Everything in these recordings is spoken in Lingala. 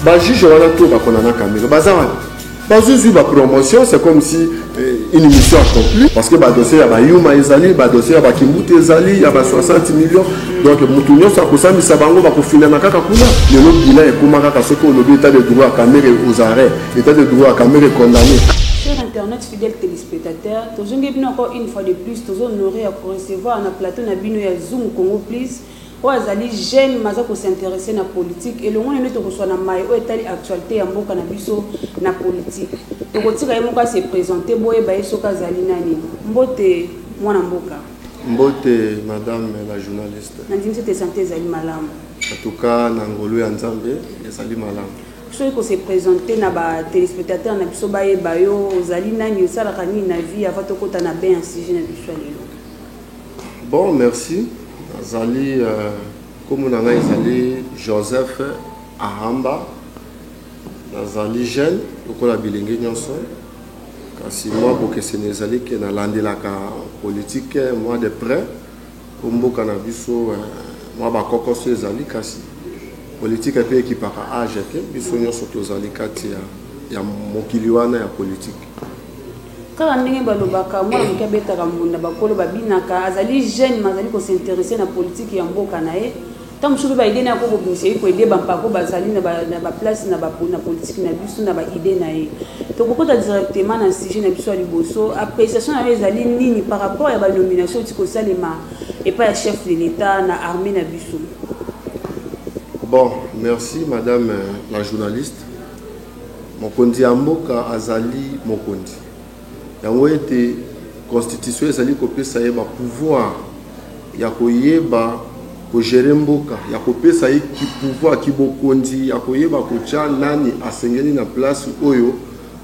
bajuge wana to bakona na kamelo baza wana bazozwi bapromotion c'est comme si eh, une mission accomplie parce que badossier ya bayuma ezali badossier ya bakimbuta ezali ya ba 60 millions donc motu nyonso akosambisa bango bakofindana kaka kuna lelo bilan ekoma kaka soki olobi etat de droit ya kamere aux arrêt etat de droit ya kamere condamné Fidèle telespectateur tozongi bino encore une fois de plus tozo honore ya ko recevoir na plateau na bino ya Zoom Congo please oyo azali jeune maza ko s'intéresser na politique elongo nene tokoswa na maye oyo etali actualité ya mboka na biso na politique tokotika ye moko a se présenter boyeba ye soki azali nani mbote mwana mboka mbote madame la journaliste nandimisi te sante ezali malamu en tout cas na ngolu ya nzambe ezali malamu Soki ko se presenter na ba telespectateurs na biso bayeba yo, ozali nani, osalaka nini na vie avant tokota na bain ya sujet na biso ya lelo? Bon, merci. Nazali euh, kombo na ngai ezali Joseph Ahamba. Nazali jeune lokola bilenge nyonso. Kasi mwa bokeseni ezali ke nalandelaka politique mwa de près. Po mboka na biso mwa ba kokoso ezali kasi politique pe ekipaka age te, biso nionso tozali kati ya mokili wana ya politique. Kaka ndenge balobaka mwana moke abetaka mbunda bakolo babinaka, azali jeune mais azali ko s'interesser na politique ya mboka na ye. Ntango mosusu mpe baide na ye akoki kobimisa ye koede bampako bazali na baplace na politiki na biso na baide na ye. Tokokota directement na sujet na biso ya liboso. Appreciation na yo ezali nini par rapport ya banomination euti kosalema epai ya chef de l'Etat na armee na biso? Bon, merci madame la journaliste. Mokonzi ya mboka azali mokonzi. Yango ete constitution ezali kopesa ye ba pouvoir ya koyeba ko gerer mboka, ya kopesa ye ki pouvoir, ki bokonzi ya koyeba kotia nani asengeli na place oyo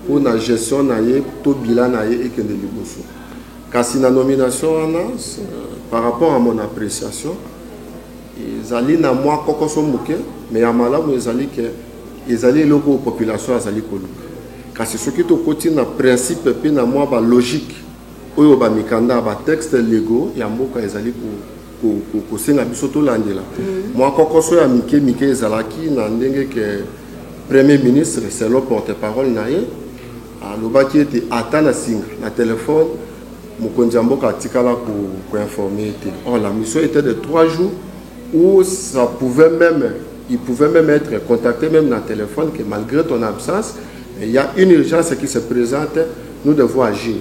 mpo na gestion na ye to bilan na ye ekende liboso. Kasi na nomination wana, par rapport à mon appreciation, Ezali na mwa kokoso moke, mais ya malamu ezali ke ezali eloko oyo population azali koluka. Kasi soki tokoti na principe mpe na mwa ba logique oyo ba mikanda, ba textes legaux ya mboka ezali kosenga biso tolandela, mwa kokoso ya mike mike ezalaki na ndenge ke Premier ministre selon porte-parole na ye alobaki ete ata na singa na telephone, Mokonzi ya mboka atikala ko ko informer ye te. Or la mission etait de trois jours où ça pouvait meme, il pouvait meme etre contacte meme na telephone que malgre ton absence il ya une urgence qui se presente nous devons agir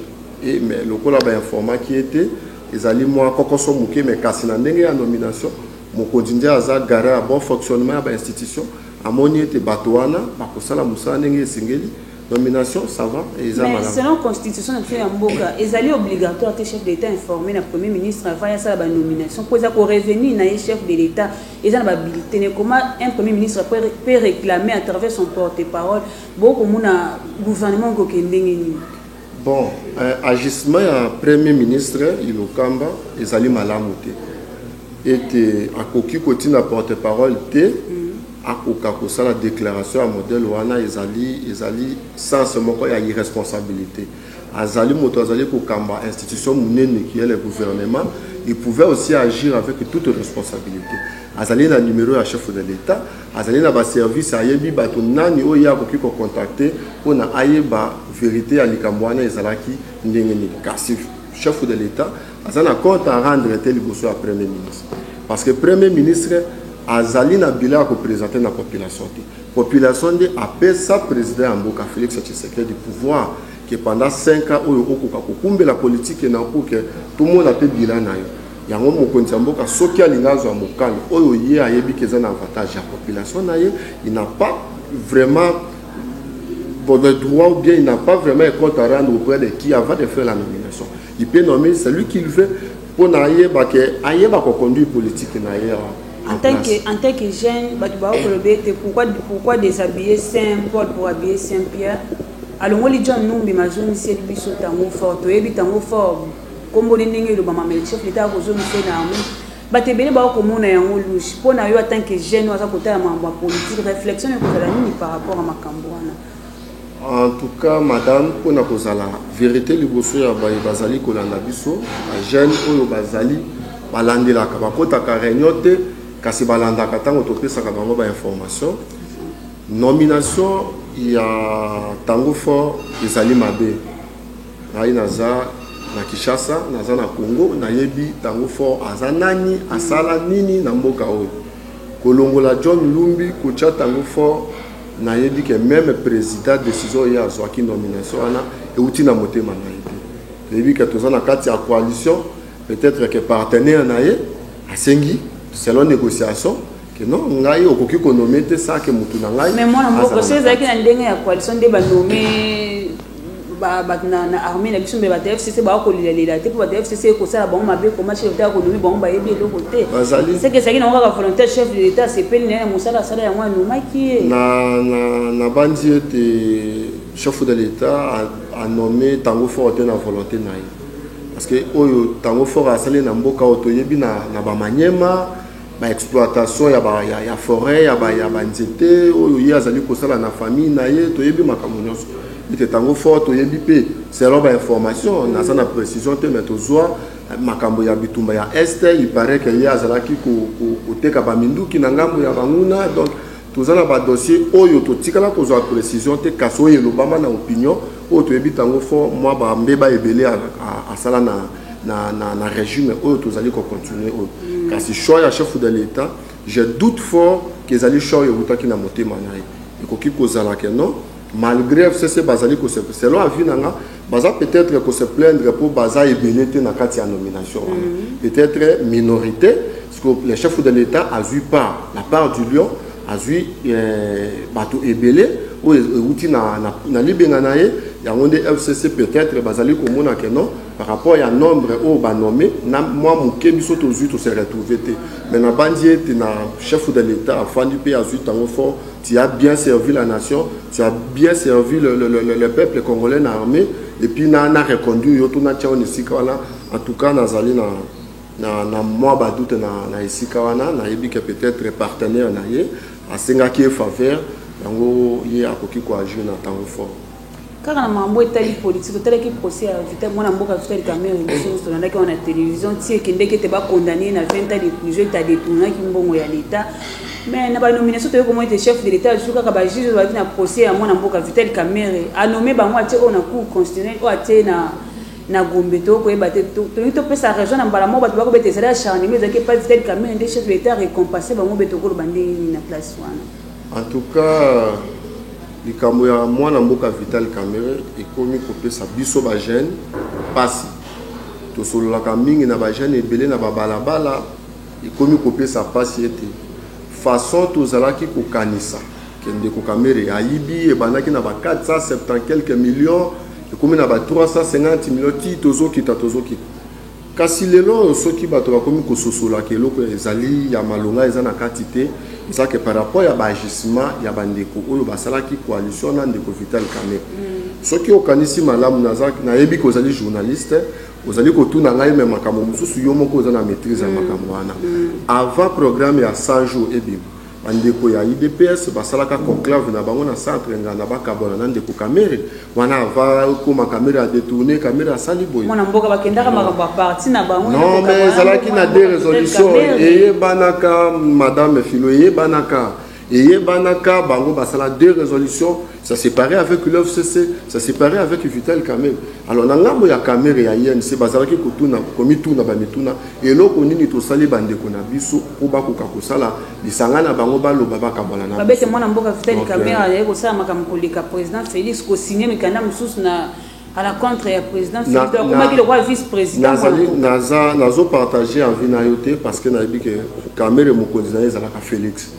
et mais lokola ba informaki ye te ezali mwa kokoso moke mais kasi na ndenge ya nomination mokonzi nde aza garant ya bon fonctionnement ya ba institution amoni ete bato wana bakosala mosala ndenge esengeli Nomination ça va et ça Mais selon constitution na biso ya mboka ezali obligatoire te chef de l'État informé na premier ministre avant ya sala ba nomination pour eza ko revenir na ye chef de l'État eza na ba habilité ne comment un premier ministre peut réclamer à travers son porte-parole bo ko mona gouvernement ko kende nini Bon euh, agissement ya premier ministre Ilokamba ezali malamu te ete akoki kotina porte-parole te mm. akoka kosala declaration ya modèle wana ezali ezali sens moko ya irresponsabilite azali moto azali kokamba institution munene qui est le gouvernement il pouvait aussi agir avec toute responsabilite azali na numero ya chef de l'etat azali na ba service ayebi bato nani oyo ye akoki ko contacter mpo na ayeba verite ya likambo wana ezalaki ndenge nini kasi chef de l'etat aza na compte à rendre te liboso ya premier ministre parce que premier ministre azali na bilan ya kopresente na population te population nde apesa président ya mboka félix tshisekedi pouvoir ke pendant 5 ans oyo okoka kokumbela politike na mpo ke tomona mpe bilan na yo yango mokonzi ya mboka soki alingi azwa mokano oyo ye ayebi ke eza na avantage ya population na ye il n'a pas vraiment bon, le droit ou bien il n'a pas vraiment un compte à rendre auprès de qui avant de faire la nomination Il peut nommer celui qu'il veut pour ayeba que ayeba ko conduire politique na ye en tant que en tant que jeune bato bakoloba ete pourquoi pourquoi déshabiller saint paul pour habiller saint pierre alongoli john numbi mazongiseli biso tango fort toyebi tango fort komboli ndenge elobama mais chef leta akozongisa ye na yango bato ebele baokomona yango lushe mpo na yo en tant que jeune oyo aza kotala makambo ya politique réflexion ekozala nini par rapport ya makambo wana En tout cas madame pona kozala verite liboso ya baye bazali kolanda biso ba jeunes oyo bazali balandelaka bakotaka reunion te kasi balandaka tango topesaka bango ba information nomination ya tango fort ezali mabe ngai naza na Kinshasa naza na Congo nayebi tango fort aza nani asala nini na mboka oyo kolongola John Lumbi kotia tango fort Na yebi que meme president decision oyo ye azuaki nomination wana ewuti na motema na ye te. To yebi que toza na kati ya coalition peut etre que partenaire na ye asengi selon negociation que non ngai okoki ko nommer te sans que mutu na ngai azala na kati. Mais mwana mboka soki ezalaki na ndenge ya coalition nde ba nommer ba bato na, na armée na biso mbe bato ya fcc baya kolelalela te mpo bato ya fcc ekosala bango mabe koma chef d'etat akonomi bango bayebi eloko te Bazali- seke ezalaki nango kaka volonté ya chef de l'état asepeli naye na mosala asala yango anomaki ye na, na, na bandi ete chef de l'état a- anome tango fort te na volonté na ye parce que oyo tango fort asali na mboka oyo toyebi na, na bamaniema ba exploitation ya ba ya, ya foret ya ba ya ba nzete oyo ye azali kosala na famille na ye toyebi makambo nyonso ete tango fort toyebi mpe selon ba information naza na précision te mais tozwa makambo ya bitumba ya est il paraît que ye azalaki koteka ko, ko baminduki na ngambo ya banguna donc Toza na ba dossier oyo totikala kozwa precision te kasi oyo elobama na opinion oyo toyebi tango fort mwa ba mbeba ebele asala na na na na regime oyo tozali ko continuer oyo kasi choix ya chef de l'etat je doute fort que ezali choix ewutaki na motema na ye ekoki kozala que non malgré fcc bazali ko selon avis na nga baza peut-être ko se plaindre mpo baza ebele te na kati ya nomination wana peut-être minorité Le chef de l'Etat azui part la part du lion azui euh, bato ebele oyo euti na, na, na libenga na ye yango nde fcc peut-être bazali komona ke non par rapport ya nombre oyo banome na mwa moke biso tozwi tose retrouve te mais nabanzi ete na chef de l'état afandi mpe azwi ntango fort tu as bien servi la nation tu as bien servi le, le, le, le peuple congolais na armée epuis na, na reconduire yo to natya yo na esika wana en tout cas nazali na Na, na mwa ba doute na, na esika wana, nayebi ke peut-etre partenaire na ye asengaki ye faveur, yango ye akoki ko agir na tango fort. Kaka na makambo etali politique, otalaki procès ya Vital, mwana mboka Vital Kamerhe, biso nionso tolandaki yango na television, ti ekendeki ete ba condamner ye na 20 ans de prison ete a detournaki mbongo ya l'Etat. Mais na ba nominations toye komona ete chef de l'Etat azui kaka ba juges oyo bazalaki na procès ya mwana mboka Vital Kamerhe, a nommer bango atie oyo na Cour constitutionnelle, oyo atie ye na na gombe to koyeba te tolingi topesa raison na mbala moko bato bakobeta ezali acharnement ezalaki epai vital kamene nde chef de l'état récompensé bango beta okoloba ndenge nini na place wana en tout cas likambo ya mwana mboka vital kamere ekomi kopesa biso bajeune mpasi tosololaka mingi na bajeune ebele na babalabala ekomi kopesa mpasi ete façon tozalaki kokanisa Ke ndeko kamere ayibi ebandaki na ba 470 quelques millions ekomi na ba 350 millions ti tozokita tozokita kasi lelo oyo soki bato bakomi kososolaka eloko ezali ya malonga eza na kati te eza ke par rapport ya baagissement ya bandeko oyo basalaki coalition na ndeko vital kame mm. soki okanisi malamu nayebi ke ozali journaliste ozali kotuna ngai me makambo mosusu yo moko oza na maîtrise ya mm. makambo wana mm. avant programme ya 100 jours ebima Ba ndeko ya udps basalaka conclave na bango na centre nganda bakabwana na ndeko kamere wana ava koma kamere a detourne kamere asali boye mwana mboka bakendaka makambo ya parti na bango non mais ezalaki na de resolution eyebanaka madame filo eyebanaka eyebanaka bango basala de resolution Ça s'est paré avec l'OFCC, ça s'est paré avec Vital Kamel. Alors, na ngambo ya Kamere ya INC, bazalaki kotuna, komituna, bamituna, eloko nini tosali bandeko na biso, po bakoka kosala, lisanga na bango baloba bakabala na biso. Babete mwana mboka Vital Kamere, euh, ayaki kosala makambo koleka président Félix, kosigner mikanda mosusu na à la contre ya président Félix, akomaki lokola vice-président. Naza, nazo partager envie na yo te, parce que nayebi que Kamere mokonzi na ye ezalaka Félix.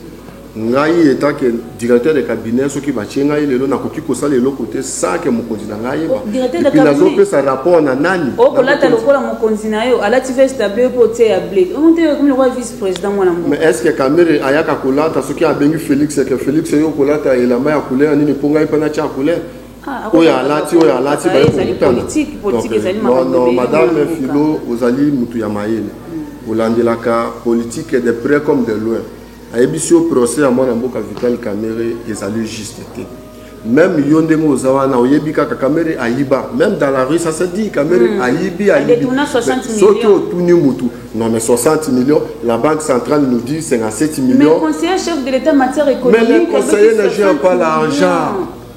Ngai etant que directeur de cabinet soki batie ngai lelo nakoki kosala eloko te sans que mokonzi na ngai ayeba. Directeur de Epuis cabinet. nazopesa rapport na nani? Na okolata mokonzi. lokola mokonzi na yo alati veste ya bleu mpo otie ya bleu omonte ekomi lokola vice président mwana mboka Mais est-ce que Kamere ayaka kolata soki abengi Felix que Felix yo kolata elamba ya couleur nini mpo ngai mpe natia couleur Ah, ako- oyo alati oyo alati baye Ezali kokutana. politique, politique Donc, ezali non, makambo non, ebele madame na mboka. Philo ozali mutu ya mayele olandelaka politique de près comme de loin Nayebisi yo procès ya mwana mboka Vital Kamerhe ezali juste te. Meme yo ndenge oza wana oyebi kaka Kamerhe ayiba. Meme dans la rue ça se dit Kamerhe hmm. ayibi ayibi. Soki otuni mutu non mais 60 millions la banque centrale nous dit 57 millions. Mais conseiller chef de l'état matière économique. Mais le conseiller ne gère pas l'argent.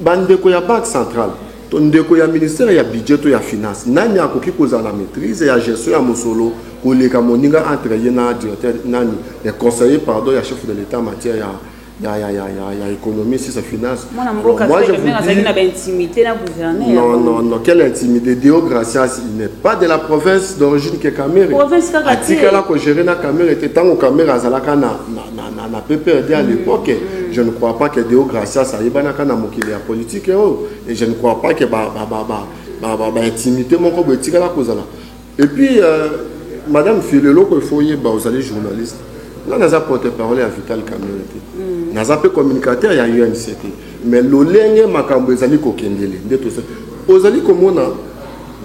Ba ndeko ya banque centrale to ndeko ya ministère ya budget to ya finance nani akoki kozala na maitrise ya gestion ya mosolo koleka moninga entre ye na directeur nani le conseiller pardon ya chef de l'etat matière ya il y a, y a, y a, y a économie, si c'est finance. Moi, bon, moi je vous dis... intimité là, gouverneur. Non, non, non, quelle intimité Deo Gracias, il n'est pas de la province d'origine que Kamere. Province Kamere. Atika là que gérer na Kamere, était tant que Kamere azalaka na, na, na na, na PPRD à l'époque. Mm. Je ne crois pas que Deo Gracias ayebanaka na mokili ya politique oyo oh. et je ne crois pas que ba ba ba ba ba, ba, ba intimité moko boye etikala kozala. Et puis euh, madame Filo eloko il faut yeba ozali journaliste. Nga naza porte-parole ya Vital Kamerhe te. Mm. Naza mpe communicateur ya UNC te. Mais lolenge makambo ezali kokendele nde tosa. Ozali komona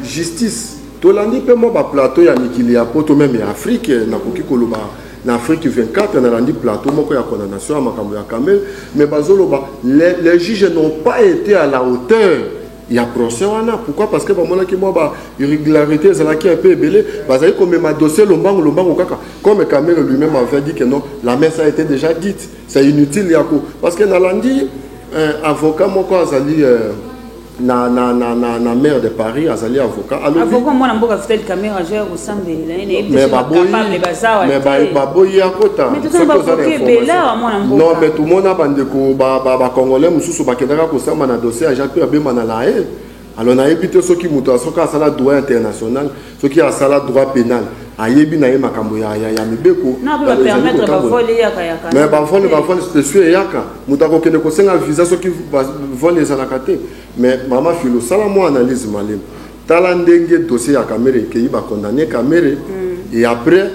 justice tolandi mpe mwa baplateau ya mikili ya poto meme ya afrike nakoki koloba na Afrique 24 na landi plateau moko ya condamnation ya makambo ya Kamel mais bazoloba les, les juges n'ont pas été à la hauteur ya procès wana pourquoi parce que bamonaki mwa ba irrégularité ezalaki un peu ebele bazali komema dossier lombango lombango kaka comme Kamel lui-même avait dit que non la messe a été déjà dite c'est inutile yako parce que nalandi euh, avocat moko azali euh, na, na, na, na, na maire de paris azali avocat avocat mwana mboka vital camera jeur kosambela ye nayebiaable bazawa mais baboyi akota non mais tomona bandeko bacongolais mosusu bakendaka kosamba na dossier ya jacques mpe abema na laye alors nayebi te soki moto soki asala droit international soki asala droit penal ayebi na ye makambo ya, ya, ya mibeko mais bavole bavole spéciaux eyaka moto akokende kosenga visa soki vole ezalaka te mais mama filo sala mwa analyse malema tala ndenge dossier ya kamere ekeyi bacondamne kamere mm. et après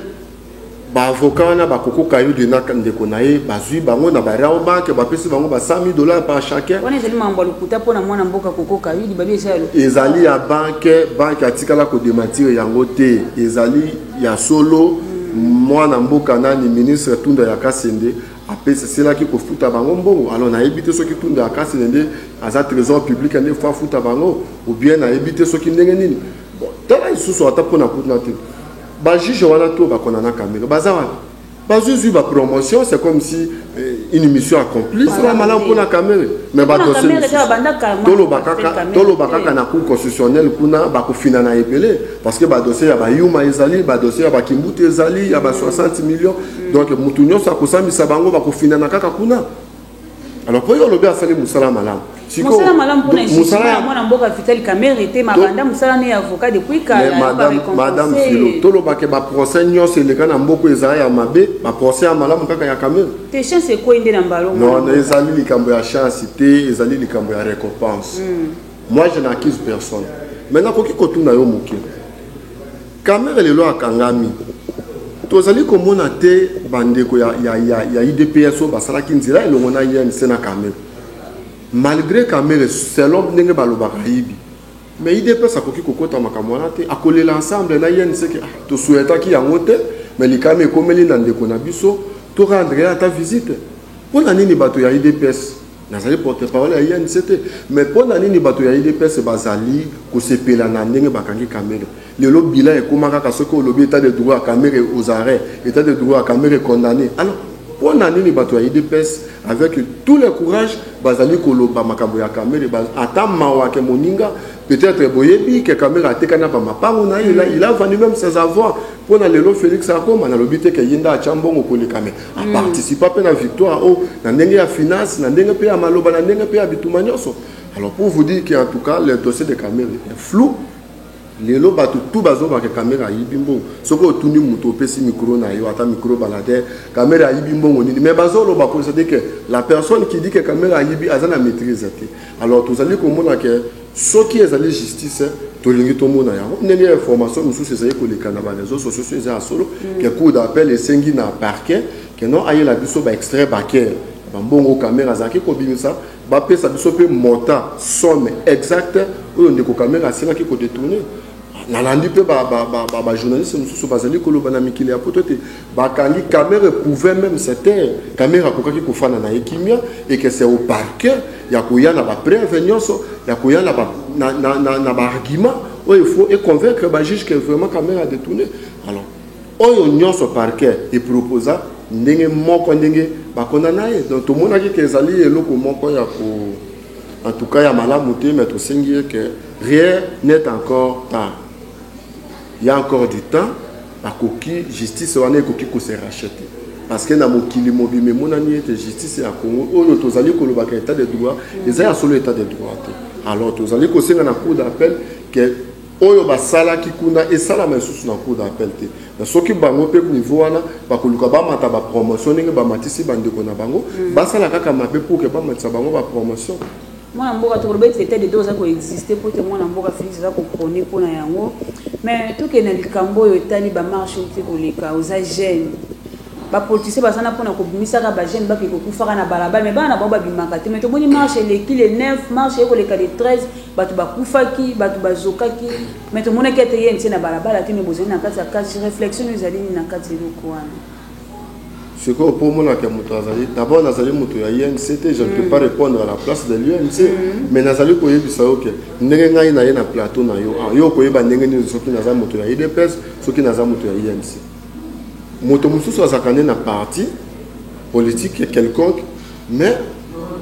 Ba avocats wana ba koko kayude na ndeko na ye bazui bango na ba Rao bank bapesi bango ba 100.000 dollars par chacun. Wana ezali makambo ya lokuta mpo na mwana mboka koko kayudi babi eza ya lokuta. Ezali ya bank bank atikala ko dementir yango te ezali ya solo mwana mboka nani ministre tunda ya kasende apesa selaki kofuta bango mbongo alors nayebi te soki tunda ya kasende nde aza trésor public nde faut afuta bango ou bien nayebi te soki ndenge nini bon tala lisusu ata mpo na kuna te Ba juges wana tout ba kona na kamere baza wapi? Bazwi zwi ba promotion c'est comme si eh, une mission accomplie. Voilà, Sala malamu oui. pona kamere mais ba Pona dossier Kamerhe, mosusu. kaka banda kala, moi, Toloba je m'appelle kaka Kamerhe, toloba oui. kaka na cour constitutionnelle kuna bakofina na ebele parce que ba dossier ya ba yuma ezali ba dossier ya ba kimbutu ezali ya ba 60 millions donc mutu nyonso akosambisa bango bakofinana kaka kuna Alors pour yo olobi asali musala malamu. Musala malamu pona musala ya mwana mboka Vital Kamerhe te mabanda musala ne avocat depuis kala. Madame Madame Philo, tolo ba ke ba procès nyonso eleka na mboko ezala ya mabe, ba procès ya malamu kaka ya Kamerhe. Te chance ekoi nde na mbalo. Non, ezali likambo ya chance te, ezali likambo ya récompense. Mm. Moi je n'accuse personne. Maintenant koki kotuna yo moke. Kamerhe lelo akangami tozali komona te bandeko ya, ya, ya, ya udps oyo basalaki nzela elongo na inc na kamerhe malgré kamerhe selon ndenge balobaka ayibi mais udps akoki kokota makambo wana te akolela ensemble na inc ke ah, tosuetaki yango te mais likama ekomeli na ndeko na biso torendre ye ata visite mpo na nini bato ya udps Nazali porte parole ya INC te mais mpo na nini bato ya udps bazali kosepela na ndenge bakangi Kamere lelo bilan ekoma kaka soki olobi etat de droit ya Kamere aux arrêts etat de droit ya Kamere condamné alors mpo na nini bato ya udps avec tout le courage bazali koloba makambo ya Kamere ata mawa ke moninga peut-être boyebi ke Kamere atekani na bamapango na ye il a vendu même ses avoirs mpo na lelo Felix akoma nalobi te ke ye nde atya mbongo koleka mais aparticipa mpe na victoire oyo na ndenge ya finance na ndenge mpe ya maloba na ndenge mpe ya bituma nyonso alors pour vous dire que en tout cas le dossier de camere est flou lelo bato tu bazobaka kamere ayibi mbongo soki otuni moto opesi mikro na yo ata mikro ebala te kamere ayibi mbongo nini mais bazoloba ko cetadi ke la personne qui dit ke kamere ayibi aza na maîtrise te alors tozali komona ke Soki ezali justice tolingi tomona yango ndenge information mosusu ezali koleka na ba reseaux sociaux so eza ya solo ke cour d'appel esengi na parquet ke non ayela biso ba extrait bancaire ya bambongo kamere azalaki kobimisa bapesa biso mpe montant somme exacte oyo ndeko kamere asengaki kodetourne nalandi mpe bajournaliste mosusu bazali koloba na mikili ya poto ete Bakangi Kamerhe pouvait meme se taire, Kamerhe akokaki kofanda na ye kimia et que c'est au parquet ya koya na ba preuves nionso, ya koya na ba na, na, na, na ba arguments oyo il faut e convaincre ba juges que vraiment Kamerhe a detourne. Alors, oyo nionso parquet e proposa ndenge moko ndenge ba condamna ye. Donc tomonaki que ezali eloko moko ya ko en tout cas ya malamu te, mais tosengi ye que rien n'est encore tard. ya encore du temps bakoki justice wana ekoki ko se racheter parce que na mokili mobima emonani ete justice ya Congo oyo tozali kolobaka etat de droit eza ya solo etat de droit te alors tozali kosenga na cour d'appel que oyo basalaki kuna esalama lisusu na cour d'appel te na soki bango mpe niveau wana bakoluka bamata bapromotion ndenge bamatisi bandeko na bango mm. basala kaka mabe pour ke bamatisa bango bapromotion mwana mboka tokoloba ete etat de droit eza koexiste mpo ete mwana mboka felix aza koprone mpo na yango mais tokende na likambo oyo etali bamarche oyo te koleka oza jeune bapolitisien baza na mpona kobimisaka bajeune bake kokufaka na balabala mais bana na bango babimaka te mais tomoni marche eleki le 9 marche ekoleka le 13 bato bakufaki bato bazokaki mais tomonaki ete ye ntie na balabala te mais bozali na kati ya kati réflexion oyo ezali nini na kati eloko wana Ce qu'on peut mona que mutu azali d'abord nazali mutu ya INC te je ne peux mm. pas répondre à la place de l'INC mm. mais nazali koyebisa yo que ndenge ngai naye na plateau na yo ah, yo okoyeba ndenge nini soki naza mutu ya IDPS soki naza mutu ya INC moto mosusu azalaka nde na parti politique quelconque mais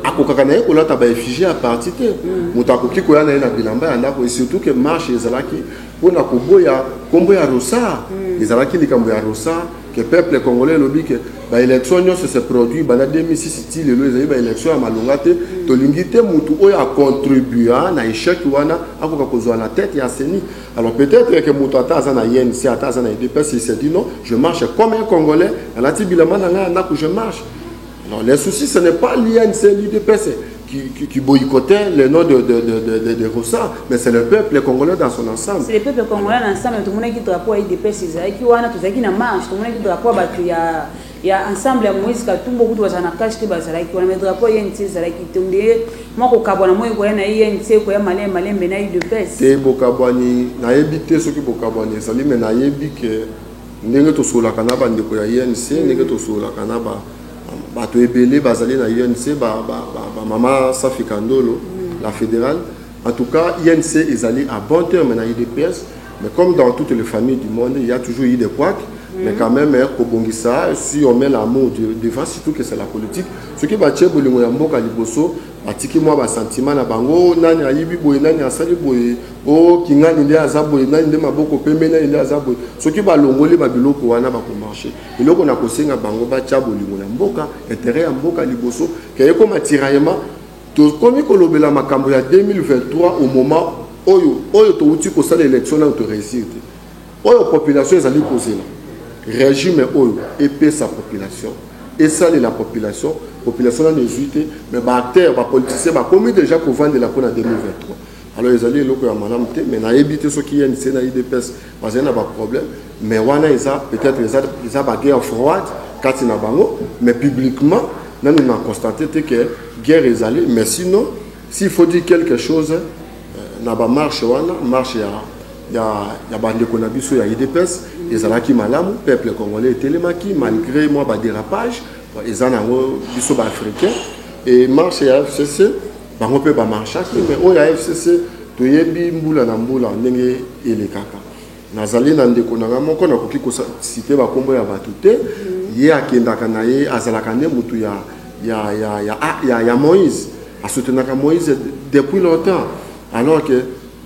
akokaka na ye kolata ba effigie ya parti te mm. moto akoki koya na ye na bilamba ya ndako et surtout que marche ezalaki mpo na koboya nkombo ya rosar mm. ezalaki likambo ya rosar que peuple congolais elobi ke baélection nyonso se produit banda 2006 ti lelo ezali baélection ya malonga te mm. tolingi te motu oyo acontribua na échec wana akoka kozwa na tête ya ceni alors peut-être ke motu ata aza na ync ata aza na edps il se dit non je marche comme un congolais nalati bilamba na ngai ya ndako je marche Non, les soucis, ce n'est pas l'IN, c'est l'UDPS qui, qui, qui, boycottait les noms de, de, de, de, de Rossa, mais c'est le peuple congolais dans son ensemble. C'est le peuple congolais dans ensemble, tout le monde qui drapeau à IDPS, qui wana, tout qui na marche, tout le monde qui drapeau à il y a il y a ensemble à Moïse Katumbo, beaucoup de gens na cache qui bazala qui wana, mais drapeau IN, c'est zala qui tombe, moi ko kabona moi ko na IN, c'est ko ya malin malin mais na IDPS. C'est bokabwani, na yebite ceux qui bokabwani, ça lui mais na yebite Ndenge tosololaka na bandeko ya UNC, ndenge tosololaka na ba bato ebele bazali na UNC, ba, ba, ba, ba mama Safi Kandolo, la fédérale. En tout cas, UNC ezali à bon terme na UDPS, mais comme dans toutes les familles du monde, il y a toujours eu des couacs. mais quand même hein, kobongisa si on met l'amour devant surtout que c'est la politique soki batie bolingo ya mboka liboso Batiki mwa ba sentiment na bango oh nani ayibi boye nani asali boye oh kingani nde aza boye nani nde maboko pembe nani nde aza boye soki balongoli ba biloko wana bako marche eloko na kosenga bango batya bolingo na mboka interet ya mboka liboso ke ekoma tiraillement tokomi kolobela makambo ya 2023 au moment oyo oyo towuti kosala election nano to reusir te Oyo population ezali kozela, regime oyo epesa population, esalela population, population nanu ezui te, mais ba acteurs, ba politiciens bakomi dejà kovandela mpo na 2023. Alors ezali eloko ya malamu te, mais nayebi te soki UNC na udps bazali na ba problèmes, mais wana eza peut etre eza, eza ba guerre froide kati na bango, mais publiquement nanu na constate te que guerre ezali, mais sinon s'il faut dire quelque chose na ba marche wana, marche ya ya ya bandeko na biso ya udps ezalaki malamu peuple congolais etelemaki malgré mwa baderapage eza nango biso baafricain e marche ya fcc bango mpe bamarchaki mais oyo ya fcc toyebi mbula na mbula ndenge elekaka nazali na ndeko na ngai moko nakoki kosite bakombo ya bato te ye akendaka na ye azalaka nde motu ya, ya, ya, ya, ya, ya moïse asoutenaka moïse depuis longtemps alors que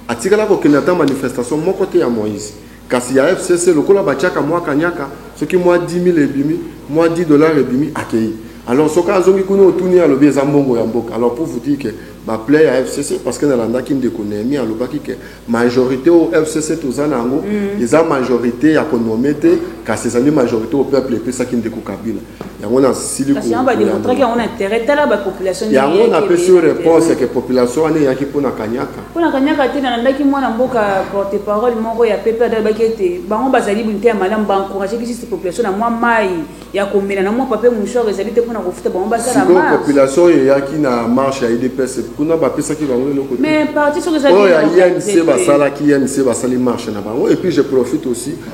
Atikala kokende ata manifestation moko te ya Moïse. Kasi ya FCC lokola batiaka mwa kanyaka, soki mwa 10.000 ebimi, mwa 10 dollars ebimi, akeyi. Alors soki azongi kuna otuni ye alobi eza mbongo ya mboka. Alors pour vous dire que ba plaies ya FCC, parce que nalandaki ndeko Nehemie alobaki que majorite oyo FCC toza na yango eza majorite ya ko nommer te, kasi ezali majorite oyo peuple epesaki ndeko Kabila. yango nasili yango napesi yo réponse yake population wana eyaki mpona kanyaka mpona kanyaka te nalandaki mwana mboka porte parole moko ya pepe adalobaki ete bango bazali bonte ya malamu baencourage kisisi population na mwa mai ya komela na mwa pape mouchor ezali te mpona kofuta bango basala population oyo eyaki na marche ya idps kuna bapesaki bango eloko mais parti soki ezalioyo ya imc basalaki imc basali marche na bango et puis je profite aussi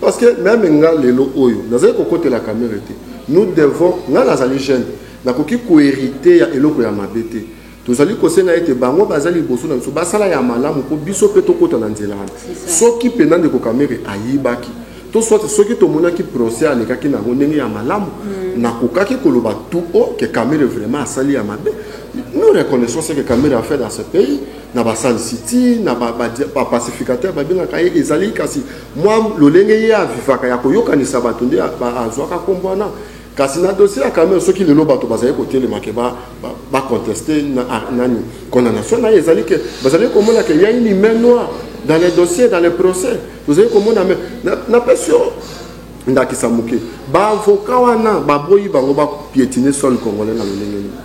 Parce que meme nga lelo oyo nazali kokotela kamere te. Nous devons nga nazali jeune nakoki koherite ya eloko ya mabe te. Tozali kosenga ete bango bazali liboso na biso basala ya malamu mpo biso mpe tokota na nzela wana. Soki mpenza ndeko kamere ayibaki to soit soki tomonaki procès alekaki na yango ndenge ya malamu mm. nakokaki koloba tout haut que kamere vraiment asali ya mabe nous reconnaissons ce que kamere a fait dans ce pays na basalisi ti na bapacificateur babengaka ye ezali kasi Mwa lolenge ye a vivaka ya koyokanisa bato nde a zuaka kombo wana. Kasi na dossier ya Kamerhe, soki lelo bato bazali kotelema que ba contester nani condamnation na ye, ezali que bazali komona que il ya une main noire dans les dossiers, dans les procès. Tozali komona main. Napesi yo ndakisa moke, ba avocats wana baboyi bango ba pietiner sol congolais na lolenge nini?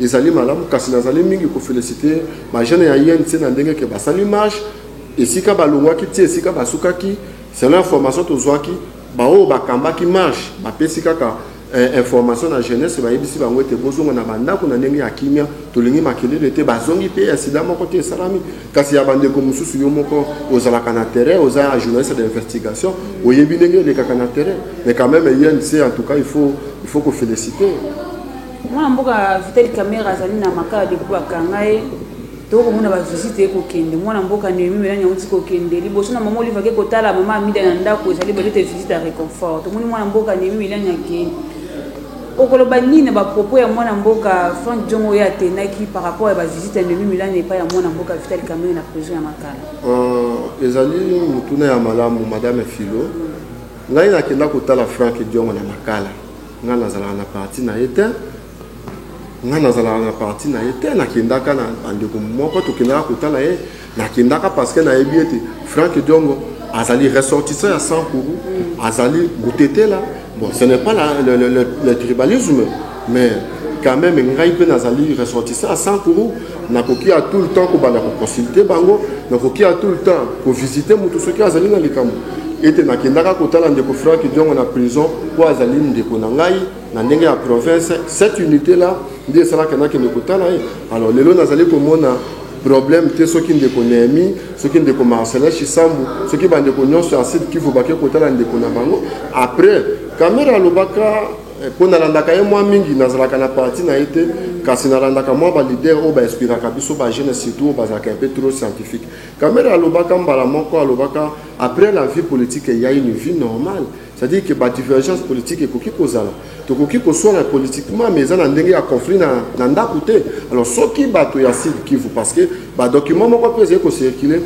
Ezali malamu kasi nazali mingi ko feliciter ba jeunes ya INC na ndenge que basali marche esika balongwaki ti esika basukaki selon information tozwaki baoyo bakambaki marche bapesi kaka eh, information na jeunesse bayebisi bango ete bozonga na bandako na ndenge ya kimia tolingi makelele te bazongi mpe ya sida moko te esalami kasi ya bandeko mosusu yo moko ozalaka na terrain oza ya journaliste d'investigation oyebi ndenge elekaka na terrain mais quand même inc en tout cas il faut, il faut koféliciter Mwana mboka Vital Kamerhe azali na Makala depuis bakanga ye. Tokoki komona ba visite ye kokende. Mwana mboka Nehemie Melania auti kokende. Liboso na mama Olive ake kotala mama Amida na ndako ezali balote visite ya reconfort. Tomoni mwana mboka Nehemie Melania ake. Okoloba nini na ba propos ya mwana mboka Frank Diongo oyo atendaki par rapport ya ba visite ya Nehemie Melania epai ya mwana mboka Vital Kamerhe na prison ya Makala? Euh, ezali motuna ya malamu madame Philo. Ngai nakenda kotala Frank Diongo na Makala. Nga nazalaka na parti na ye tein. Nga nazalaka na parti na ye tein. Nakendaka na bandeko moko tokendaka kotala ye. Nakendaka parce que nayebi ete Franck Diongo azali ressortissant ya Sankuru, azali Butetela. Bon, ce n'est pas la, le, le, le, le tribalisme, mais quand même ngai mpe nazali ressortissant ya Sankuru. Nakoki à tout le temps kobanda ko consulter bango, nakoki à tout le temps ko visiter moto soki azali na likambo. Ete nakendaka kotala ndeko Frank Diongo na prison mpo azali ndeko na ngai na ndenge ya province. Cette unité là nde esalaka nakende kotala ye. Alors lelo nazali komona problème te soki ndeko Nehemi, soki ndeko Marcelin Shisambu, soki bandeko nyonso ya Sud Kivu bake kotala ndeko na bango. Après, Kamere alobaka Eh, mpo nalandaka ye mwa mingi nazalaka na parti na ye te kasi nalandaka mwa balider oyo bainspiraka biso bajeune surtout oyo bazalaka mpe trop scientifique kamere alobaka mbala moko alobaka après la vie politique eya une vie normale c'est-à-dire que badivergence politique ekoki kozala tokoki koswana politiquement mais eza na ndenge ya conflit na, na ndako te alors soki bato ya sud kivu parce que badocument moko mpe ezali kocircule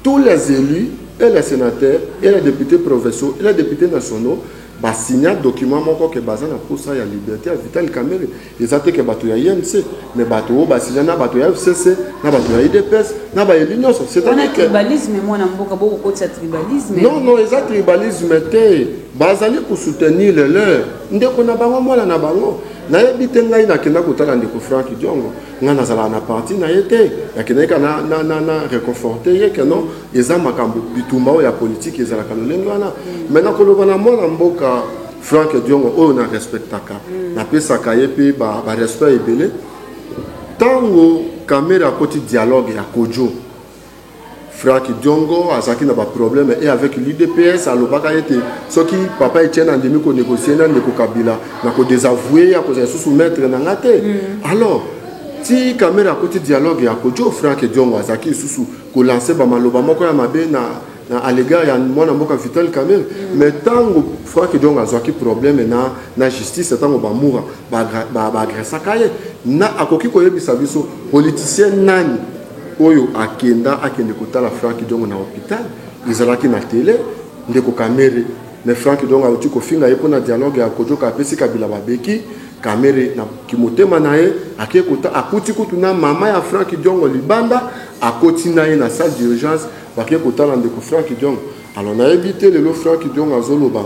Tous les elus et les senateurs et les deputes provinciaux et les deputes nationaux ba signa document moko ke baza na posa ya liberte ya Vital Kamerhe. Eza te ke bato ya INC, mais bato oyo ba signa na bato ya FCC, na bato ya UDPS, na ba elus nionso. C'est Wana que tribalisme mwana mboka boko kotisa tribalisme. Non, non, eza tribalisme te. Bazali ko soutenir le leur. Ndeko na bango, mwana na bango. Nayebi te ngai nakenda kotala ndeko Franck Diongo. Nga nazalaka na parti na ye te, nakendaki kaka na, na, na, na reconforte ye que non, eza makambo bitumba oyo ya politique ezalaka lolenge wana. Mm. Mais nakoloba na mwana mboka Frank Diongo oyo na respectaka, mm. napesaka ye pe ba, ba respect ebele. Tango Kamere akoti dialogue ya Kojo, Franck Diongo azalaki na ba problème et avec l'UDPS alobaka ete soki papa Etienne andimi ko négocier na ndeko Kabila na ko désavouer ya kozala lisusu maître na nga te mm. alors ti kamera akuti dialogue ya kojo Franck Diongo azalaki lisusu ko lancer ba maloba moko ya mabe na na à l'égard ya mwana mboka Vital Kamerhe mm. mais ntango Franck Diongo azwaki problème na na justice ntango bamura baagressaka ba, ba ye na akoki koyebisa biso politicien nani Oyo akenda akende kotala Franck Diongo na hopital ezalaki na tele ndeko Kamere mais Franck Diongo awuti kofinga ye mpo na dialogue ya Kodjo ka apesi Kabila babeki Kamere na kimotema na ye ake kota akuti kutu na mama ya Franck Diongo libanda akoti na ye na salle d'urgence bake kotala ndeko Franck Diongo alors nayebi te lelo Franck Diongo azoloba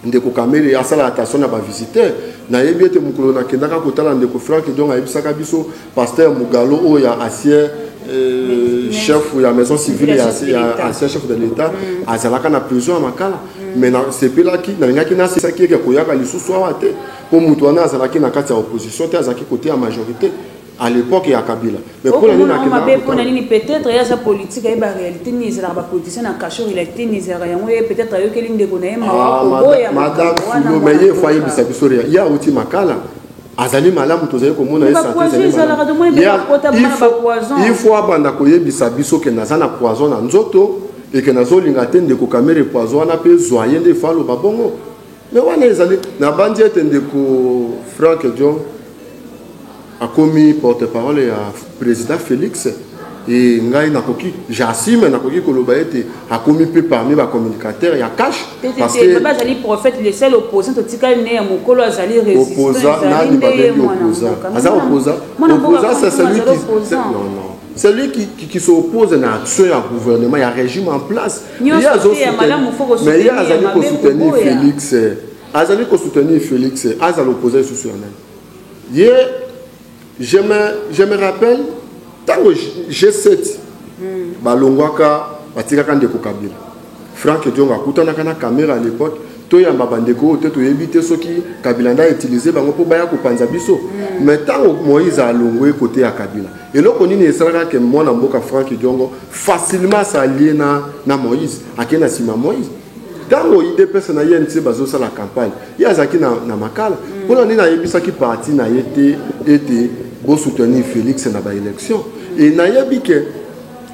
Ndeko Kamere asala attention na ba visiteurs. Nayebi ete mokolo nakendaka kotala ndeko Franck Diongo ayebisaka biso pasteur Mugalo oyo ya ancien euh, chef ya maison civile ya ya ancien chef de l'État azalaka na prison ya Makala. Mais nasepelaki nalingaki nasisaki ye ke koyaka lisusu awa te mpo moto wana azalaki na kati ya opposition te azalaki kote ya majorité. à l'epoque ya kabila mais pona nini akenda mabe pona nini peut-être ya sa politique ayeba réalité ni ezalaka ba politiciens na cachot il a été ni ezalaka yango ye peut-être ayokeli ndeko na ye mawa ah, koboya madame fulo mais ye fo ayebisa biso rea ya uti makala azali malamu tozali komona ye santeil faut abanda koyebisa biso ke naza na poison na nzoto eke nazolinga te ndeko kamere poison wana mpe zwa ye nde fo aloba bongo Mais wana ezali nabanzi ete ndeko Frank John akomi porte-parole ya président Félix et ngai nakoki j'assume nakoki koloba ete akomi mpe parmi ba communicateurs ya cash parce que baba azali prophète le seul opposant totikali ne ya mokolo azali opposant nani babengi opposant aza opposant opposant c'est celui qui non non celui qui, qui, qui s'oppose na action ya gouvernement ya régime en place Ye azo mais ye azali ko soutenir Felix eh. azali ko soutenir Felix eh. azala opposé lisusu ya nani ye je me, je me rappelle ntango G7 hmm. balongwaka batikaka ndeko Kabila Frank Diongo akutanaka na kamera à l'époque toyamba bandeko oyo te toyebi te soki kabila nde autilize bango mpo baya kopanza biso mm. mais ntango moïse alongwe kote ya kabila Eloko nini esalaka ke mwana mboka Franck Diongo facilement s'allier na, na Moïse ake na sima Moïse ntango idps na inc bazosala campagne ye azalaki na, na makala mpona mm. nini ayebisaki parti na ye te ete bosoutenir félix na baélection e nayebi ke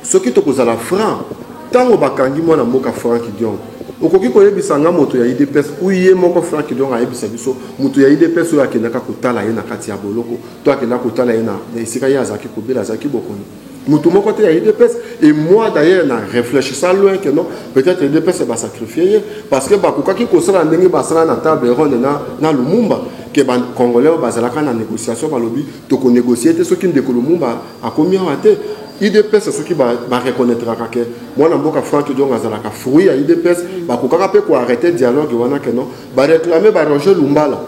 soki tokozala franc ntango bakangi mwana mboka frank diong okoki koyebisa nga moto ya idps u ye moko frank diong ayebisa biso moto ya idps oyo akendaka kotala ye na kati ya boloko to akenda kotala ye na esika ye azalaki kobela azalaki bokono motu moko te ya idps et moi d'ailleurs na réfléchissa loin que non peut-être idps basacrifie ye parce que bakokaki kosala ndenge basala na table ronde na, na lumumba ke bacongolais oyo bazalaka na négociation balobi tokonégocie te soki ndeko lumumba akomi awa te idps soki bareconnaitraka ke mwana mboka frank diong azalaka fruit ya idps bakokaka mpe koarrete dialogue wana ke non bareclame baroger lumbala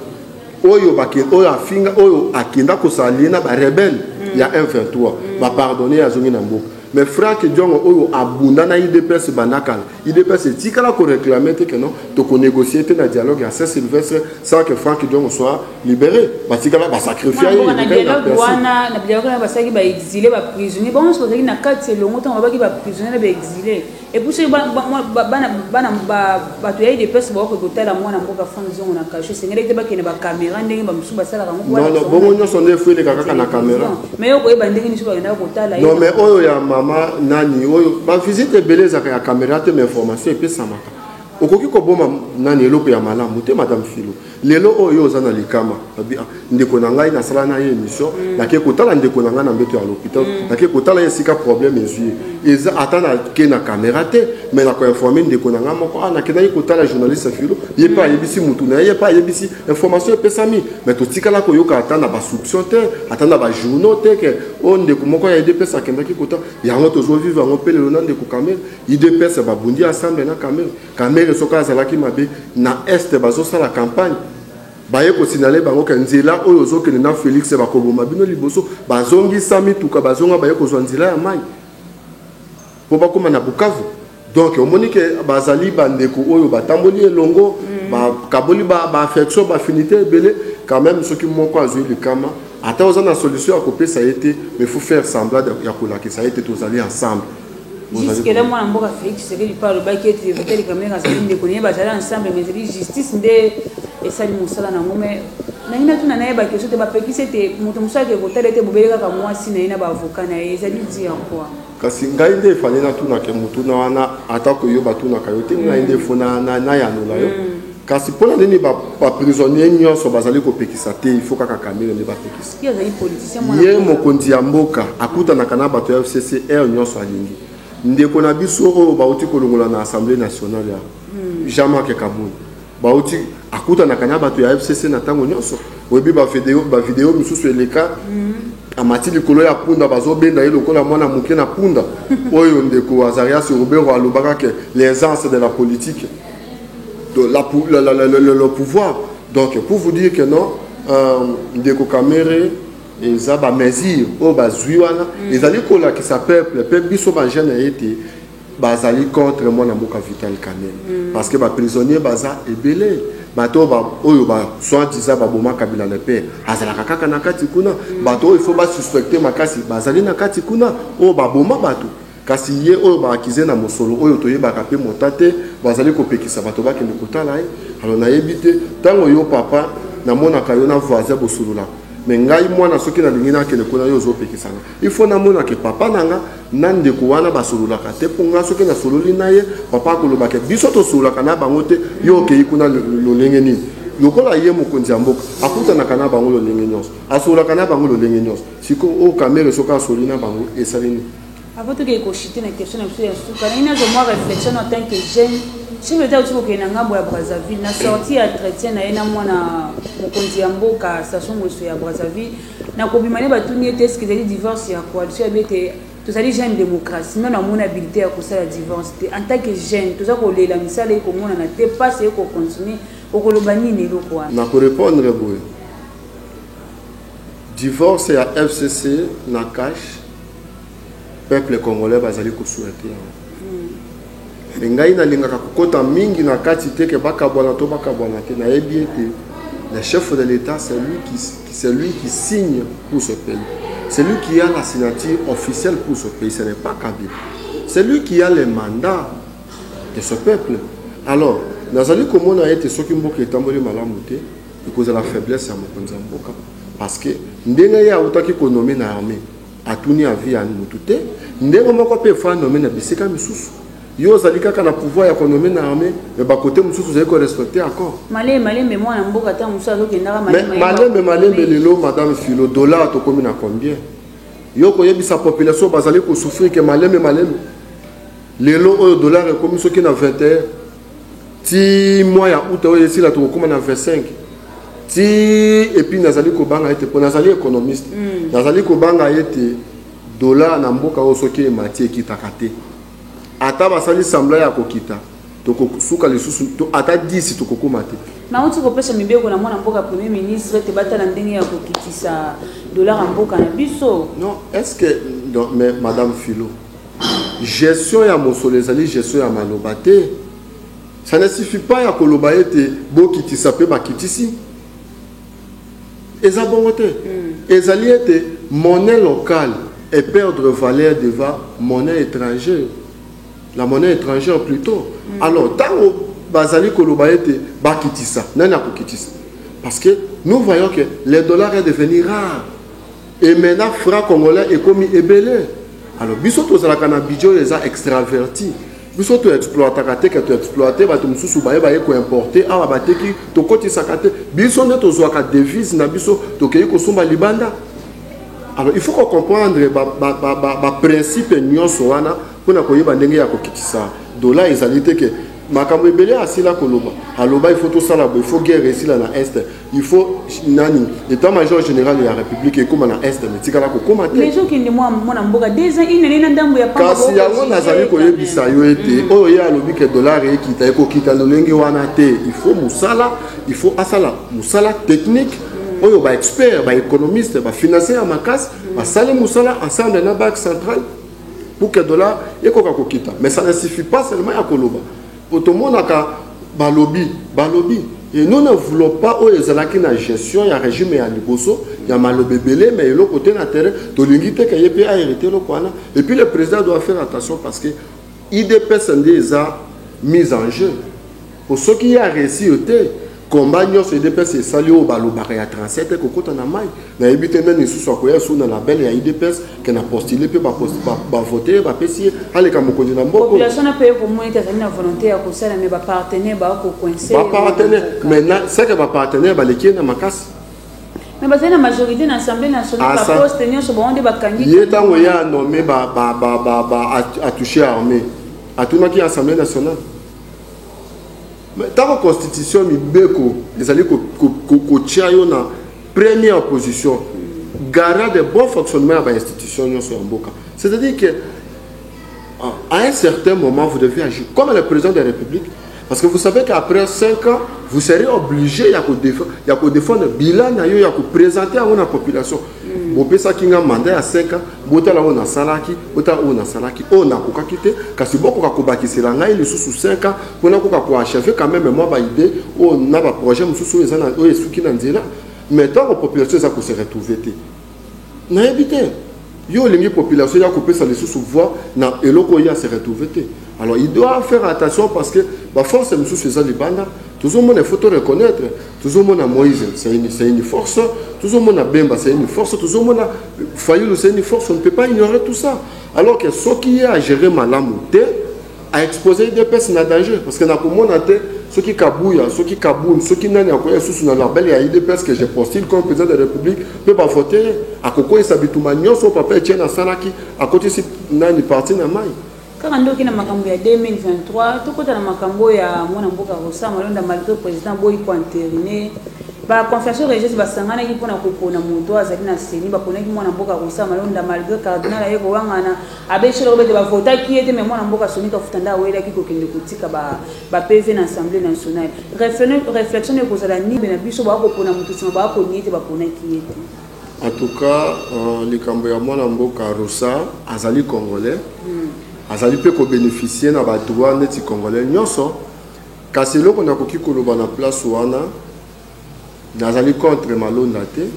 oyo bake oyo afinga oyo akenda kosala lie na ba rebelle mm. ya M23 mm. ba pardonner azongi na mboka mais Frank Diongo oyo abunda na IDPS banakala IDPS etikala ko réclamer te que non to ko négocier te na dialogue ya Saint Sylvestre sans que Frank Diongo soit libéré batikala ba sacrifier ye na dialogue wana na dialogue na basaki ba exilés ba prisonniers bon so bazali na kati elongo tango babaki ba prisonniers na ba exilés Et puis soki bana ba- mwa- ba- bana bana ba bato ya udps bakoki kotala mwana mboka frank zongo na kasho esengelaki te bakende bakamera ndenge bamosusu basalaka yango po non non balakisa bongo mwana- nyonso nde efo eleka kaka na kamera Non, mais yo koyeba ndenge misu bakendaka kotala ye. non mais oyo ya mama nani oyo bavisite ebele ezalaka ya kamera te mais information epesamaka okoki koboma nani eloko ya malamu te madame filo Lelo oyo yo oza na likama abi ah, ndeko na ngai nasala na ye émission mm. nake kotala ndeko na ngai na mbeto ya l'hôpital mm. nake kotala ye esika problème ezwi mm. eza ata nake na caméra te mais nako informe ndeko na ngai moko ah nakendaki kotala journaliste filo ye mpe mm. ayebisi mutu na ye ye mpe ayebisi information epesami mais totikala koyoka ata na basouption te ata na bajournaux te ke o oh, ndeko moko ya idps akendaki kotala yango tozovivre yango mpe lelo na ndeko kamere idps babundi ensemble na kamere Kamere soki azalaki mabe na est bazo sala campagne baye ko signaler bango ke nzela oyo ozo kende na Felix bako boma bino liboso bazongisa mituka bazonga baye kozwa nzela ya mayi po bakoma na Bukavu donc omoni ke bazali bandeko oyo batamboli elongo mm. bakaboli ba, ba affection ba affinité ebele quand même soki moko azwi likama ata oza na solution ya kopesa ye te mais faut faire semblant ya kolakisa ye te tozali ensemble Jusque là mwana mboka Felix Tshisekedi mpe alobaki ete Vital Kamerhe azali ndeko naye bazali ensemble mais ezali justice nde esali mosala na yango mais nangi natuna naye bakestion te bapekisi ete moto mosusu ake kotala ete bobele kaka mwasi na ye na baavoka na ye ezali dire quoi kasi ngai nde efale natunake motuna wana atako yo batunaka yo te ngai nde fo nayanola yo kasi mpo na nini baprisonnier nyonso bazali kopekisa te il faut kaka kamere nde bapekisa ye mokonzi ya mboka akutanaka na bato ya fcc heure nyonso alingi ndeko na biso oyo bauti kolongola na assemblée nationale ya hmm. jean marc kabund bauti akutanaka na bato ya fcc na ntango nyonso oyebi bavideo mosusu eleka hmm. amati likolo ya punda bazobenda ye lokola mwana moke na punda oyo ndeko azarias robero alobaka ke les anses de la politique de la, la, la, la, le, le pouvoir donc pour vous dire que non euh, ndeko kamere eza bamesure oyo bazwi wana mm. ezali kolakisa peuple mpe biso bajeune ya ete bazali contre mwana mboka vital kamere mm. parce que baprisonnier baza ebele bato oyo baswantisa baboma kabila na mpe azalaka kaka na kati kuna mm. bato oyo ifo basuspecte makasi bazali na kati kuna oyo baboma bato Kasi ye oyo ba accuser na mosolo oyo toyebaka pe mota te, bazali kopekisa bato bakende kotala ye, alors nayebi te, tango yo papa namonaka yo na voisin bosololaka, mais ngai mwana soki nalingi nakende kuna yo ozopekisa nga, il faut namona que papa na nga na ndeko wana basololaka te, po nga soki nasololi na ye, papa akoloba que biso tosololaka na bango te, yo okeyi kuna lolenge nini? Lokola ye mokonzi ya mboka, akutanaka na bango lolenge nionso, asololaka na bango lolenge nionso, sikoyo oyo Kamerhe soki asoli na bango esali nini? Avant tokende ko chuter na question na biso ya suka, nalingi nazwa mwa reflexion en tant que jeune. Chef d'Etat auti kokende na ngambo ya Brazzaville, na sortie ya entretien na ye na mwana mokonzi ya mboka Sassou Nguesso ya Brazzaville, na kobima nde batuni ye te est-ce que ezali divorce ya coalition? Alobi ete tozali jeune democratie, nanu amoni habilite ya kosala divorce te. En tant que jeune, toza kolela misala eye komonana te, pasi eye ko continuer, okoloba nini na eloko wana? Na ko repondre boye. Divorce ya FCC na Kash peuple congolais bazali ko souhaiter yango. Mais ngai nalingaka kokota mingi na kati te ke bakabwana to bakabwana te. Nayebi ete le chef de l'Etat c'est lui qui c'est lui qui signe pour ce pays. C'est lui qui a la signature officielle pour ce pays, ce n'est pas Kabila. C'est lui qui a le mandat de ce peuple. Alors, nazali komona ete soki mboka etamboli malamu te ekozala faiblesse ya mokonzi ya mboka parce que ndenge ye awutaki konome na armée atuni avi ya motu te ndenge moko mpe efo anome na bisika misusu yo ozali kaka na pouvoir ya konome na armée me bakote mosusu ozali korespecte accord malembe malembe mwana mboka ntango mosusu azokendaka malembe malembe lelo madame filo dollar tokomi na combien yo koyebisa population bazali kosouffrir ke malembe malembe lelo oyo dollar ekomi soki na 21 ti mois ya aout oyo esila tokokoma na 25 ti epuis nazali kobanga ete mpo nazali économiste mm. nazali kobanga ete dollar na mboka oyo soki emati ekitaka te ata basali sembla ya kokita tokosuka lisusu to, ata 10 tokokoma te nauti kopesa mibeko na mwana mboka premier ministre ete batala ndenge ya kokitisa dollar ya mboka na biso non est ce que mais madame philo Gestion ya mosolo ezali gestion ya maloba te. Ça ne suffit pas ya koloba ete bokitisa mpe bakitisi. Eza bongo te. Hmm. Ezali ete monnaie locale et perdre valeur devant monnaie étrangère. La monnaie étrangère plutôt. Mm. Alors, tango bazali koloba ete bakitisa, nani akokitisa? Parce que nous voyons que le dollar est devenu rare. Et maintenant franc congolais ekomi ebele alors biso tozalaka na budget oyo eza extraverti biso to exploitaka te ke to exploite bato mosusu baye baye koimporte awa bateki tokotisaka te biso nde tozwaka devise na biso tokei kosomba libanda alors il faut kocomprendre baprincipe ba, ba, ba nyonso wana mpo na koyeba ndenge ya kokitisa dola ezali te ke makambo ebele asila koloba aloba il faut tosala bo il faut guerre esila na este il faut nani état major général ya république ekóma na est mais etikala kokóma te mais okende mwana mboka des ans une année na ndambo ya pamba kasi yango nazali koyebisa yo ete mm. oyo ye alobi ke dollar ekita ekokita lolenge wana te il faut mosala il faut asala mosala technique mm. oyo baexpert baéconomiste bafinancier ya makasi mm. basali mosala ensemble na banque centrale pour que dollar ekoka kokita mais ça ne suffit pas seulement ya koloba Po tomonaka balobi balobi et nous ne voulons pas oyo ezalaki na gestion ya regime ya liboso ya maloba ebele mais eloko te na terrain tolingi te ke ye pe a heriter eloko wana et puis le president doit faire attention parce que idps nde eza mise en jeu po soki ye a reusir te Combat nionso udps esali oyo balobaka ya 37 ekokota na mai nayebi te nani lisusu akoya lisusu na label ya udps ke na postule mpe bavote ye bapesi ye aleka mokonzi na mboka population na paye komona ete azali na volonté ya kosala me bapartenaire bakokoinse bapartenaire maintenant seke bapartenaire baleki ye na makasi mais bazali na majorité na assemblée nationale baposte nyonso bango nde bakangi ye ntango ye anome atouche armée atunaki assemblée nationale Mais tango constitution mibeko ezali kotia yo na première position garant de bon fonctionnement ya ba institution nyonso ya mboka c'est à dire que à un certain moment vous devez agir comme le président de la république parce que vous savez qu'après 5 ans vous serez obligé ya kodefendre bilan na yo ya kopresente yango na population bopesaki nga mandat ya 5 ans Botala oyo nasalaki, botala oyo nasalaki, oyo nakokaki te, kasi bokoka kobakisela ngai lisusu 5 ans mpo nakoka ko achever quand meme mwa ba idee oyo na ba projets mosusu oyo eza na oyo esuki na nzela mais ntango population eza ko se retrouver te nayebi te yo olingi population ya kopesa lisusu voix na eloko oyo ya se retrouver te alors il doit faire attention parce que ba force mosusu eza libanda tozomona il faut to reconnaître Tozo mona Moïse c'est une c'est une force, tozo mona Bemba c'est une force, tozo mona Fayulu c'est une force, on ne peut pas ignorer tout ça. Alors que ce qui est à gérer malamu te a exposer des personnes à danger parce que na komona te soki kabuya soki kabun soki nani akoya susu na label ya idps que je postule comme président de la république mpe bavote akokweyisa bituma nyonso papa etienne asalaki akotisi nani parti na mai Kaka nde oke na makambo ya 2023, tokota na makambo oyo ya mwana mboka Rosa Malonda malgre president aboyi ko enteriner. Ba confessions religieuses basanganaki mpo na kopona moto oyo azali na ceni, baponaki mwana mboka Rosa Malonda malgre cardinal aye kowangana, abebisi lokola ete bavotaki ye te mais mwana mboka Sony Kafuta nde awelaki kokende kotika ba, ba PV na Assemblee nationale. Reflexion ekozala nini na biso baya kopona moto nsima baya koniye ete baponaki ye te? En tout cas likambo ya mwana mboka Rosa azali congolais azali pe ko beneficier na ba droits neti congolais nionso kasi eloko nakoki koloba na place wana nazali contre malonda te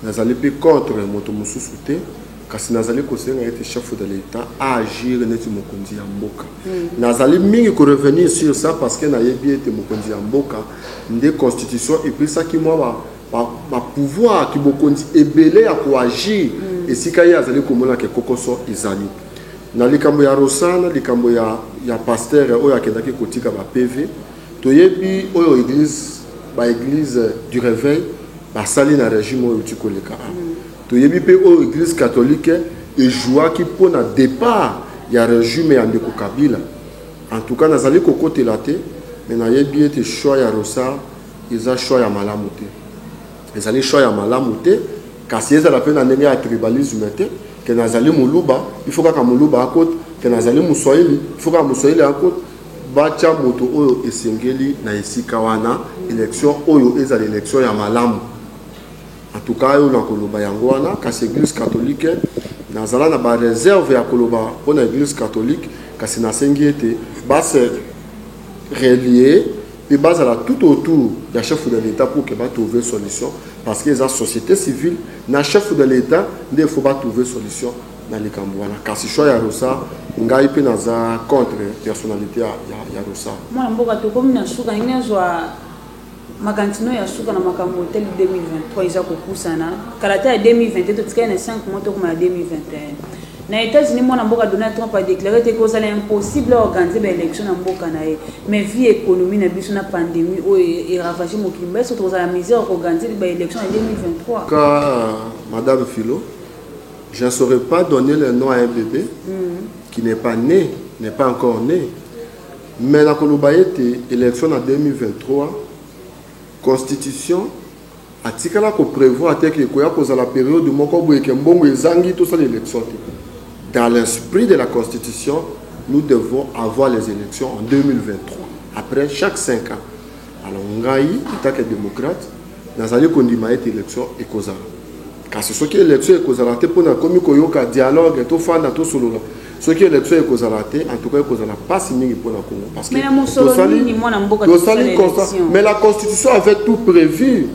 nazali pe contre moto mosusu te kasi nazali kosenga ete chef de l'etat aagir neti mokonzi ya mboka mm. nazali mingi korevenir sur ça parce que nayebi ete mokonzi ya mboka nde constitution epesaki mwa ba pouvoir kibokonzi ebele ya ko agir esika ye azali komona ke kokoso ezali na likambo ya rosana likambo ya ya pasteur oyo akendaki kotika ba pv toyebi oyo eglise ba eglise du reveil basali na regime oyo euti koleka a toyebi mpe oyo eglise catholique ejouaki mpo na départ ya regime ya ndeko kabila en tout cas nazali kokotela te me nayebi ete choix ya rosar Eza choix ya malamu te. Ezali choix ya malamu te kasi ezala pe na ndenge ya tribalisme te que nazali muluba il faut kaka muluba akota que nazali muswahili il faut kaka muswahili akota batia moto oyo esengeli na esika wana election oyo ezala election ya malamu en tout cas yo nakoloba yango wana kasi eglise catholique nazala na ba réserve ya koloba mpona eglise catholique kasi nasengi ete base relier pe bazala tout autour ya chef de l'etat pour que ba trouver solution parce que eza societe civile na chef de l'etat nde il faut ba trouver solution na likambo wana kasi choix ya rosa ngai pe naza contre personnalite ya, ya, ya rosa mwana mboka tokomi na suka ndenge azwa makanisi ya suka na makambo hôtel 2023 eza kopusana kala ta ya 2020 totikali na 5 mois tokoma ya 2021 Na Etats-Unis, mwana mboka Donald Trump a declarer ete ekozala impossible a organiser ba elections na mboka na ye. Mais vu economie na biso na pandemie oyo e ravager mokili mobimba, est ce que tokozala na mesure ya ko organiser ba elections na 2023? Ka madame Philo, je ne saurais pas donner le nom à un bebe qui n'est pas né, n'est pas encore né. Mais nakoloba ete election na 2023 constitution Atikala ko prevoir te que ekoya kozala periode moko boye que mbongo ezangi tosala election te. Dans l'esprit de la constitution, nous devons avoir les elections en 2023 après chaque cinq ans. Alors ngai, en tant que democrate, nazali kondima ete election ekozala. Kasi soki election ekozala te mpo nakomi koyoka dialogue tofanda tosolola soki election ekozala te en tout cas ekozala pasi mingi pona Congo parce que tosali tosali mais la constitution avait tout prévu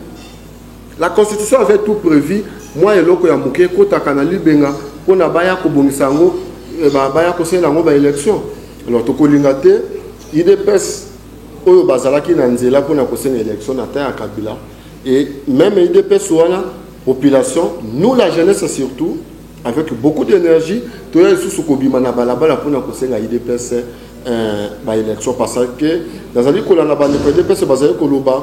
la constitution avait tout prévu mwa eloko ya moke ekotaka na libenga pona baya kobongisa yango eh, baya kosalela yango ba election alors tokolinga te idps oyo bazalaki na nzela pona kosenga election na temps ya kabila Et meme udps wana population nous la jeunesse surtout avec beaucoup d'énergie toya lisusu kobima na balabala mpona kosenga udps euh, baélection parce que nazali kolanda bandeko udps bazali koloba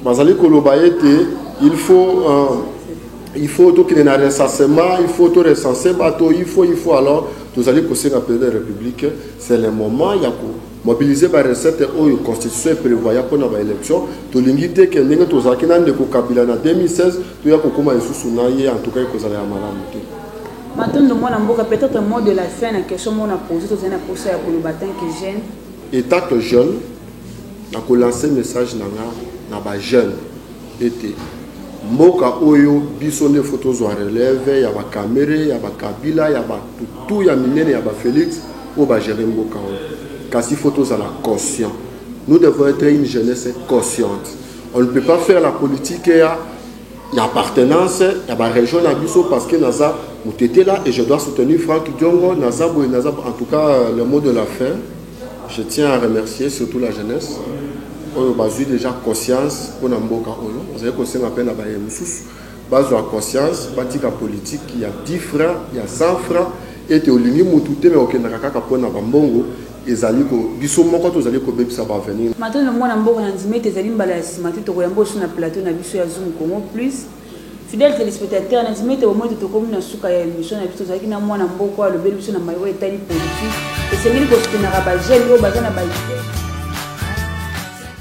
bazali koloba ete il faut euh, il faut tokende na recensement il faut to recense bato il faut il faut alors tozali kosenga président de république c'est le moment ya ko Mobiliser ba recettes oyo constitution e prevoya pona ba elections, tolingi te que ndenge tozalaki na ndeko Kabila na 2016 toya kokoma lisusu na ye, en tout cas ekozala ya malamu te. Matondo mwana mboka, peut etre mot de la fin na question moko na poser tozali na posa ya koloba tant que jeune. Etant que jeune, nako lancer message na nga na ba jeunes, ete mboka oyo biso nde faut tozwa relève ya ba Kamerhe, ya ba Kabila, ya batu tout ya minene ya ba Felix po ba gerer mboka oyo. Kasi faut tozala conscient. Nous devons etre une jeunesse consciente. On ne peut pas faire la politique ya ya appartenance ya ba region na biso parce que naza mutetela et je dois soutenir Franck Diongo, naza boye naza en tout cas le mot de la fin. Je tiens à remercier surtout la jeunesse oyo bazui dejà conscience pona mboka oyo bazali kosenga pe na baye mosusu bazwa conscience batika politique ya 10 francs ya 100 francs ete olingi mutu te me okendaka kaka pona ba mbongo ezali ko biso moko tozali kobebisa ba avenir Matano mwana mboka na ndimi ete ezali mbala ya sima te tokoyamba oyo na plateau na biso ya zoom congo plus. Fidèle telespectateur, na ndimi ete bomoni ete tokomi na suka ya emission na biso. Tozalaki na mwana mboko oyo alobeli biso na maye oyo etali politique. Esengeli kosoutenaka ba jeunes oyo baza na ba idee.